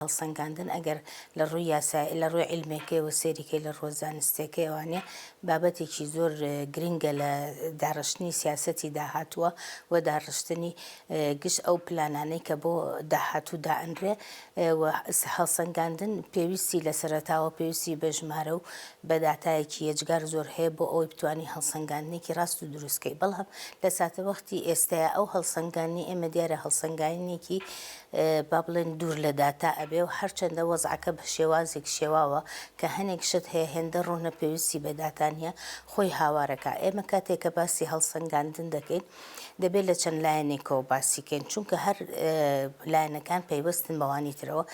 هەڵسەنگاندن ئەگەر لە ڕووی یاسا لە ڕووی عیلمێکەوە سێریکەی لە ڕووە زانستێکەوانێ بابەتێکی زۆر گرنگە لە داڕشتنی سیاسەتی داهاتووە و داڕشتنی گشت ئەو پلانانەی کە بۆ داهاتوو دائەنرێ هەڵسەنگاندن پێویستی لە سەرەتاوە پێویستی بە ژمارە و بەداتایەکی یەجگار زۆر هەیە بۆ ئەوەی بتانی هەڵسەنگاندنێکی ڕاست و دروستکەی بەڵام لە ساتەوەختی ئێستاە ئەو هەڵسەنگانی ئێمە دیارە هەڵسەنگاینێکی با بڵێین دوور لە داتا ئەبێ و هەرچەندە وەزعەکە بە شێوازێک شێواوە کە هەنێک شت هەیە هێندە ڕوونە پێویستی بە داتا نییە خۆی هاوارە کا ئێمە کاتێک کە باسی هەڵسەنگاندن دەکەین دەبێ لە چەند لایەنێکەوە باسی کەین چونکە هەر لایەنەکان پەیوەستن بەوانی ترەوە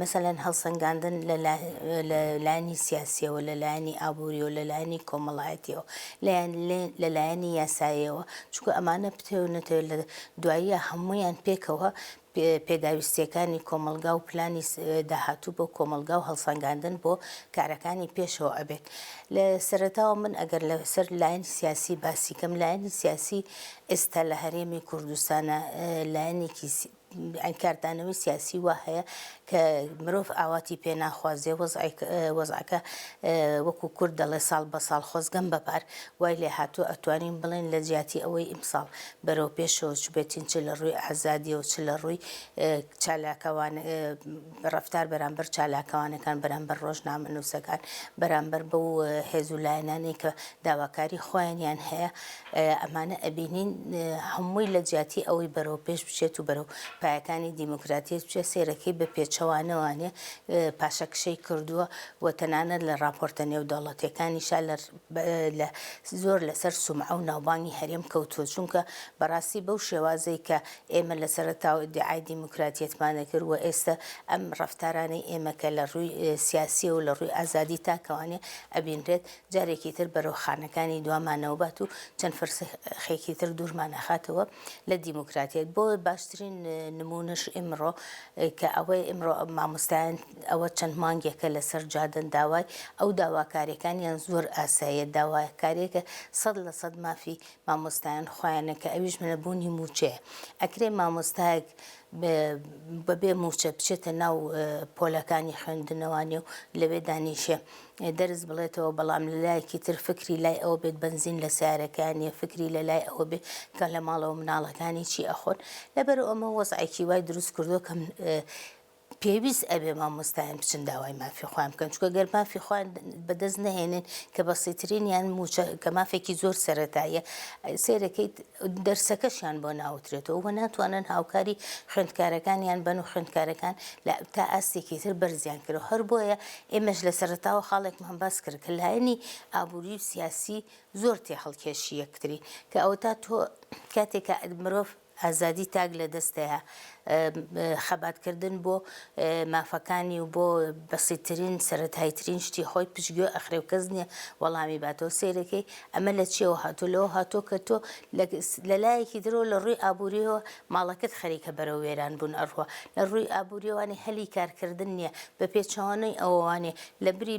مەسەلەن هەڵسەنگاندن لە لایەنی سیاسیەوە لە لایەنی ئابووری و لە لایەنی کۆمەڵایەتیەوە لەیان لە لایەنی یاسایەوە چونکە ئەمانە بتەوێت نەتەوێت لە دواییە هەموویان پێکەوە پێداویستییەکانی کۆمەڵگا و پلانی داهاتوو بۆ کۆمەڵگا و هەڵسەنگاندن بۆ کارەکانی پێشەوە ئەبێت. لە سەرەتاوە من ئەگەر لە سەر لایەنی سیاسی باسی کەم لایەنی سیاسی ئێستا لە هەرێمی کوردستانە لایەنێکی ئەی کاردانەوەی سیاسی وا هەیە کە مرۆڤ ئاواتی پێ ناخوازێ وەزعەکە وەکو کورد دەڵێ ساڵ بە ساڵ خۆزگەم بەپار وای لێ هاتوو ئەتوانین بڵێن لە جیاتی ئەوەی ئیمساڵ بەرەو پێشەوە چ بێتین چ لە ڕووی ئازادیەوە چ لە ڕووی چالاکەوان ڕەفتار بەرامبەر چالاکوانەکان، بەرامبەر ڕۆژنامەنووسەکان، بەرامبەر بەو هێز و لایەنانەی کە داواکاری خۆیانیان هەیە، ئەمانە ئەبینین هەمووی لە جیاتی ئەوەی بەرەو پێش بچێت و بەرەو پایەکانی دیموکراتیەت بچێت، سەیرەکەی بە پێچەوانەوانێ پاشەکشەی کردووە و تەنانەت لە ڕاپۆرتە نێودەوڵەتیەکانیشا لە زۆر لەسەر سومعە و ناوبانگی هەرێم کەوتووە، چونکە بەڕاستی بەو شێوازەی کە ئێمە لە سەرەتاوە ئیدیعای دیموکراتیەتمان دەکرد و ئێستە ئەم ڕەفتارانەی ئێمە کە لە ڕووی سیاسییە و لە ڕووی ئازادی تاکەوانێ ئەبینرێت جارێکی تر بەرەو خانەکانی دوامانەوە بات و چەند فرسخێکی تر دوورمان ئەخاتەوە لە دیموکراتیەت بۆ باشترین نموونەش ئیمڕۆ کە ئەوەی ئیمڕۆ مامۆستایان ئەوە چەند مانگێکە لەسەر جادەن داوای ئەو داواکاریەکانیان زۆر ئاساییە داواکاریەکە سەد لە سەد مافی مامۆستایان خۆیانە کە ئەویش نەبوونی مووچەیە ئەکرێ مامۆستایەک بەبێ مووچە بچێتە ناو پۆلەکانی خوێندنەوانی و لەوێ دانیشێ دەرز بڵێتەوە بەڵام لە لایەکی تر فکری لای ئەوە بێت بنزین لە سیارەکانیە فکری لە لای ئەوە بێت کە لە ماڵەوە مناڵەکانی چی ئەخۆن لەبەر ئەمە وەزعێکی وای دروست کردووە کەم پێویست ئەبێ مامۆستایان بچن داوای مافی خۆیان بکەن چونکە گەر مافی خۆیان بەدەست نەهێنن کە بەسیترینیان موچە کە مافێکی زۆر سەرەتاییە سێرەکەیت دەرسەکەشیان بۆ ناوترێتەوە و ناتوانن هاوکاری خوێندکارەکانیان بن و خوێندکارەکان لە تا ئاستێکی تر بەرزیان کرد و هەر بۆیە ئێمەش لە سەرتاوە خاڵێکمان باس کرد کە لایەنی ئابووری و سیاسی زۆر تێ هەڵکێشی یەکتری کە ئەوە تا تۆ کاتێکە مرۆڤ ئازادی تاک لە دەستەیە خەبات کردن بۆ مافەکانی و بۆ بەسیترین سەرەتایترین شتی خۆی پشتگوێ ئەخرێ و کەس نیە وەڵامی باتەوە سەیرەکەی ئەمە لە چیەوە هاتووە لەوە هاتووە کە تۆ لە لایەکی درەوە لە ڕووی ئابووریەوە ماڵەکەت خەریکە بەرەو وێران بوون ئەڕوا لە ڕووی ئابووریەوانی هەلی کارکردن نیە بە پێچەوانەی ئەوەوانێ لە بری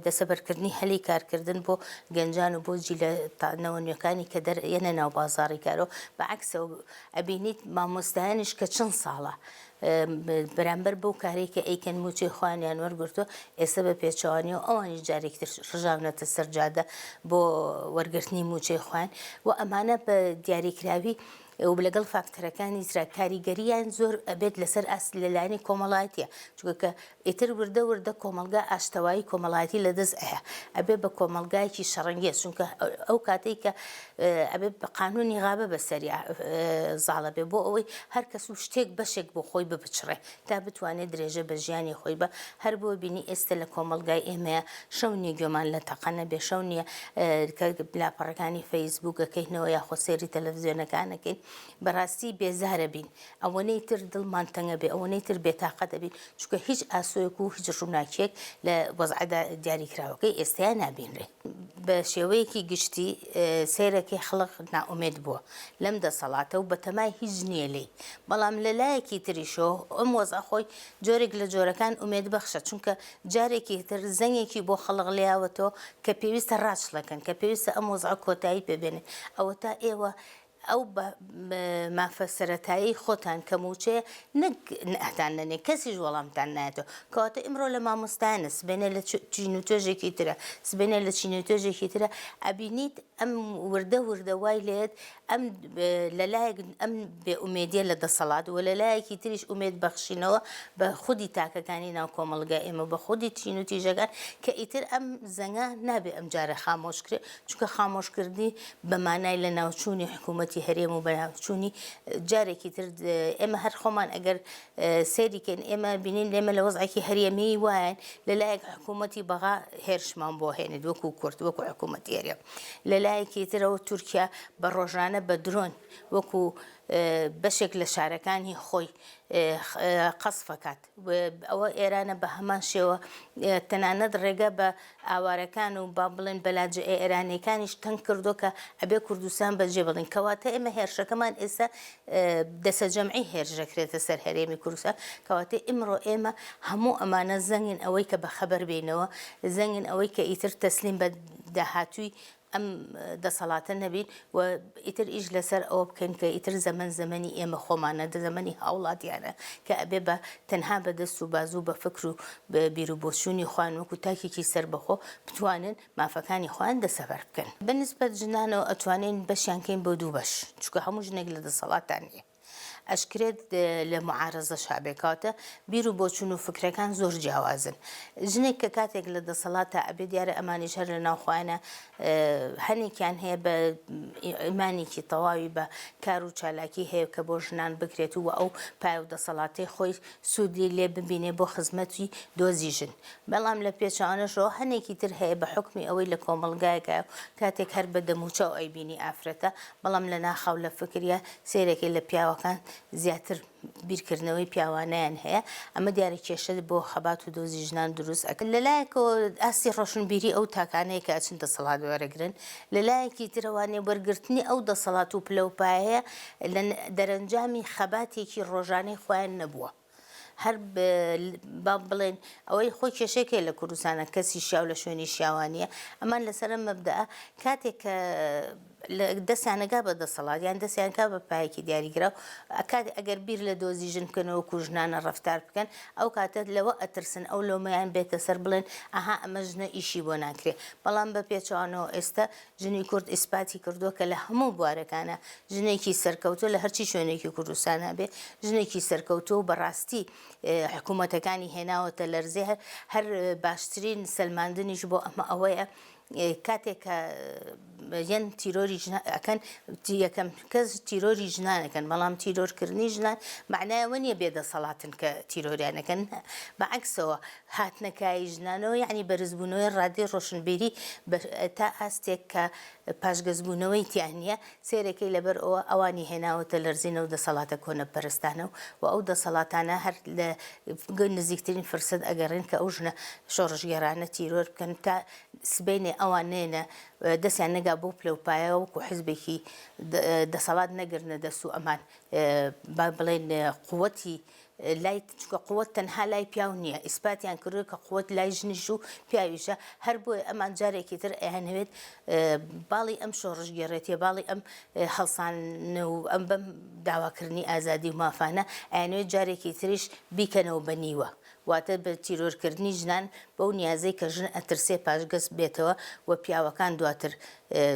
دەسەبەرکردنی هەلی کارکردن بۆ گەنجان و بۆ جیلە تا نەوە نوێکانی کە دەر یەنە ناو بازاڕی کارو بە عەکسەوە ئەبینیت مامۆستایانیش کە چەن ساڵە بەرامبەر بەو کارەی کە ئەیکەن موچەی خۆیانیان وەرگرتوە ئێستا بە پێچەوانەوە ئەوانیش جارێکی تر ڕژاونەتە سەر جادە بۆ وەرگرتنی موچەی خۆیان و ئەمانە بە دیاریکراوی و لەگەڵ فاکتەرەکانی ترا کاریگەریان زۆر ئەبێت لەسەر ئاست لەلایەنی کۆمەڵایەتە چونکە ئیتر وردە وردە کۆمەڵگا ئاشتەوایی کۆمەڵایەتی لە دەست ئەیا ئەبێ بە کۆمەڵگایەکی شەڕەنگێز چونکە ئەو کاتەی کە ئەبێ بە قانونی غابە بە سەریا زاڵە بێ بۆ ئەوەی هەر کەس و شتێک بەشێک بۆ خۆی ببچڕێ تا بتوانێ درێژە بە ژیانی خۆی بە هەر بۆ بینی ئێستە لە کۆمەڵگای ئێمەیە شەو نیە گوێمان لە تەقە نەبێ شەو نیە کە لاپەڕەکانی فەیسبووک ئەکەینەوە یاخۆ سێری تەلەفزیۆنەکان ئەکەین بەڕاستی بێزارە بین ئەوەنەی تر دڵمان تەنگ ئەبێ، ئەوەنەی تر بێتاقەت ئەبین، چونکە هیچ ئاسۆیەک و هیچ ڕووناکییەک لە وەزعە دیاریکراوەکەی ئێستەیا نابینرێ. بە شێوەیەکی گشتی سەیرەکەی خەڵک نائومێد بووە لەم دەسەڵاتە و بەتەمای هیچ نییە لێی، بەڵام لە لایەکی تریشەوە ئەم وەزعە خۆی جۆرێک لە جۆرەکان ئومێدبەخشە، چونکە جارێکی تر زەنگێکی بۆ خەڵک لێیاوەتەوە کە پێویستە ڕاچڵەکن، کە پێویستە ئەم وەزعە کۆتایی پێ بێنن. ئەوەتا ئێوە ئەو مافە سەرەتایەی خۆتان کە مووچەیە نەک نەهتان نەنێ کەسیش وەڵامتان نایەتەوە کەواتە ئیمڕۆ لە مامۆستایانە سبەینێ لە چین و توێژێکی ترە سبەینێ لە چین و توێژێکی ترە ئەبینیت ئەم وردە وردە وای لێت ئەم لەلایەک ئەم بێ ئومێدیە لە دەسەڵات و لەلایەکی تریش ئومێد بەخشینەوە بە خودی تاکەکانی ناو کۆمەڵگای ئێمە بە خودی چین و تیژەکان کە ئیتر ئەم زەنگە نابێ ئەم جارە خامۆشکرێ چونکە خامۆشکردنی بە مانای لەناوچوونی حکوومەتی هەرێم و بەناوچوونی جارێکی تر ئێمە هەر خۆمان ئەگەر سەیریکەن ئێمە بینین لێمە لە وەزعێکی هەرێمی وایەن لەلایەک حکوومەتی بەغا هێرشمان بۆ هێنێت وەکو کورد وەکو حکوومەتی هەرێم لەلایەکی ترەوە تورکیا بە ڕۆژانە بە درۆن وەکو بەشێک لە شارەکانی خۆی قەسفەکات و ئەوە ئێرانە بە هەمان شێوە تەنانەت ڕێگە بە ئاوارەکان و با بڵێن بەلانجە ئێرانیەکانیش تەنگ کردوە کە ئەبێ کوردستان بە جێ بڵین کەواتە ئێمە هێرشەکەمان ئێستا دەسە جەمعی هێرش دەکرێتە سەر هەرێمی کوردستان کەواتە ئیمڕۆ ئێمە هەموو ئەمانە زەنگن ئەوەی کە بە خەبەر بینەوە زەنگن ئەوەی کە ئیتر تەسلیم بە داهاتووی ئەم دەسەڵاتە نەبین و ئیتر ئیش لەسەر ئەوە بکەین کە ئیتر زەمەن زەمەنی ئێمە خۆمانە دە زەمەنی هاوڵاتیانە کە ئەبێ بە تەنها بە دەست و بازوو بە فکر و بیرو بۆچوونی خۆیان وەکو تاکێکی سەربەخۆ بتوانن مافەکانی خۆیان دەسەبەر بکەن بە نسبەت ژنانەوە ئەتوانین بەشیان کەین بۆ دوو بەش چونکە هەموو ژنێک لە دەسەڵاتدا نیە. ئەشکرێت لە معارەزەشا بێ کەواتە بیر و بۆچون و فکرەکان زۆر جیاوازن ژنێک کە کاتێک لە دەسەڵاتە ئەبێ دیارە ئەمانیش هەر لە ناوخۆیانە هەنێکیان هەیە بە ئیمانێکی تەواوی بە کار و چالاکی هەیە کە بۆ ژنان بکرێت و ئەو پای و دەسەڵاتی خۆی سوودی لێ ببینێ بۆ خزمەتی دۆزی ژن بەڵام لە پێچوانەشەوە هەنێکی تر هەیە بە حکمی ئەوەی لە کۆمەلگایەکە کاتێک هەر بە دەموچاو ئەیبینی ئافرەتە بەڵام لە ناخاو لە فکریا سەیرەکەی لە پیاوەکان زیاتر بیرکردنەوەی پیاوانەیان هەیە ئەمە دیارە کێشە بۆ خەبات و دۆزی ژنان دروست ئەکە لە لایەکەوە ئاستی ڕۆشنبیری ئەو تاکانەیە کە ئەچن دەسەڵات وەرەگرن لە لایەکی ترەوە نێوبەرگرتنی ئەو دەسەڵات و پلەوپایەیە لە دەرەنجامی خەباتێکی ڕۆژانەی خۆیان نەبووە. هەر با بڵێن ئەوەی خۆی کێشەی کێ لە کوردستانە کەسی شیاو لە شوێنی شیاوا نییە ئەمان لەسەر ئەم مەبدەئە کاتێک کە لە دەستیانەگا بە دەسەڵات یان دەستیانکا بە پایەکی دیاریگرا و ئەکات ئەگەر بیر لە دۆزی ژن بکەنەوە کوژنانە ڕفتار بکەن ئەو کاتە لەوە ئەترسن ئەو لۆمەیان بێتە سەر بڵێن ئەها ئەمە ژنە ئیشی بۆ ناکرێ بەڵام بە پێچوانەوە ئێستا ژنی کورد ئیسپاتی کردووە کە لە هەموو بوارەکانا ژنێکی سەرکەوتوو لە هەرچی شوێنێکی کوردستانا بێ ژنێکی سەرکەوتوو و بەڕاستی حکوومەتەکانی هێناوەتە لەرزێ هەر باشترین سەلماندنیش بۆ ئەمە ئەوەیە کاتێک کە یەن تیرۆری ئەکەن یەکەم کەس تیرۆری ژنانەکەن بەڵام تیرۆرکردنی ژنان معنایەوە نیە بێدەسەڵاتن کە تیرۆریانەکەن بەعکسەوە هاتنە کایەی ژنانەوە یانی بەرزبوونەوەی ڕادەی ڕۆشنبیری بە تا ئاستێک کە پاشگەزبوونەوەی تیا نییە، سەیرەکەی لەبەر ئەوە ئەوانی هێناوەتە لەرزین ئەو دەسەڵاتە کۆنەپەرستانە و و ئەو دەسەڵاتانە هەر لە نزیکترین فرسەت ئەگەڕێن کە ئەو ژنە شۆڕشگێڕانە تیرۆر بکەن تا سبەینێ ئەوان نێنە دەستیان نەگا بەو پلەوپایە وەکو حزبێکی دەسەڵات نەگرنە دەست و ئەمان با بڵێن قوتی لای چونکە قوت تەنها لای پیاو نیە ئیسپاتیان کردوە کە قوت لای ژنیش و پیاویشە هەر بۆیە ئەمان جارێکی تر ئەیانەوێت باڵی ئەم شۆڕشگێڕێتیە باڵی ئەم هەڵسان و ئەم بەم داواکردنی ئازادی و مافانە ئەیانەوێت جارێکی تریش بیکەنەوە بە نیوە واتە بە تیرۆرکردنی ژنان بەو نیازەی کە ژن ئەترسێ پاشگەز بێتەوە و پیاوەکان دواتر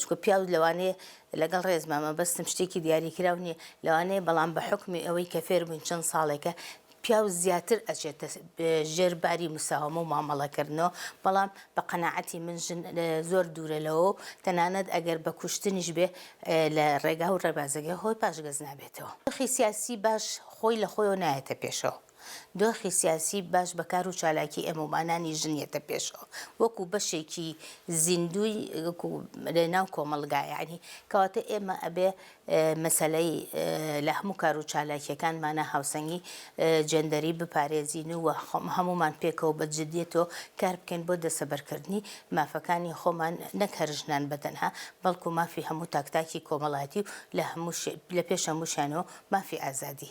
چکە پیاو لەوانەیە لەگەڵ ڕێزما مەبەستم شتێکی دیاریکراو نیە لەوانەیە بەڵام بە حوکمی ئەوەی کە فێربووین چەند ساڵێکە پیاو زیاتر ئەچێتە ژێر باری مساوەمە و مامەڵەکردنەوە بەڵام بە قەناعەتی من ژن زۆر دوورە لەوە و تەنانەت ئەگەر بە کوشتنیش بێ لە ڕێگا و ڕێبازەکە خۆی پاشگەز نابێتەوە دۆخی سیاسی باش خۆی لە خۆیەوە نایەتە پێشەوە. دۆخی سیاسی باش بە کار و چالاکی ئێمەومانانی ژن یەتە پێشەوە وەکو بەشێکی زیندووی وەکو لەناو کۆمەڵگا یەعنی کەواتە ئێمە ئەبێ مەسەلەی لە هەموو کار و چالاکیەکانمانا هاوسەنگی جێندەری بپارێزین و هەموومان پێکەوە بە جدیەتۆ کار بکەین بۆ دەسەبەرکردنی مافەکانی خۆمان نەک هەر ژنان بەتەنها بەڵکو مافی هەموو تاک تاکی کۆمەڵاتی و لە هەموو لە پێش هەمووشیانەوە مافی ئازادی.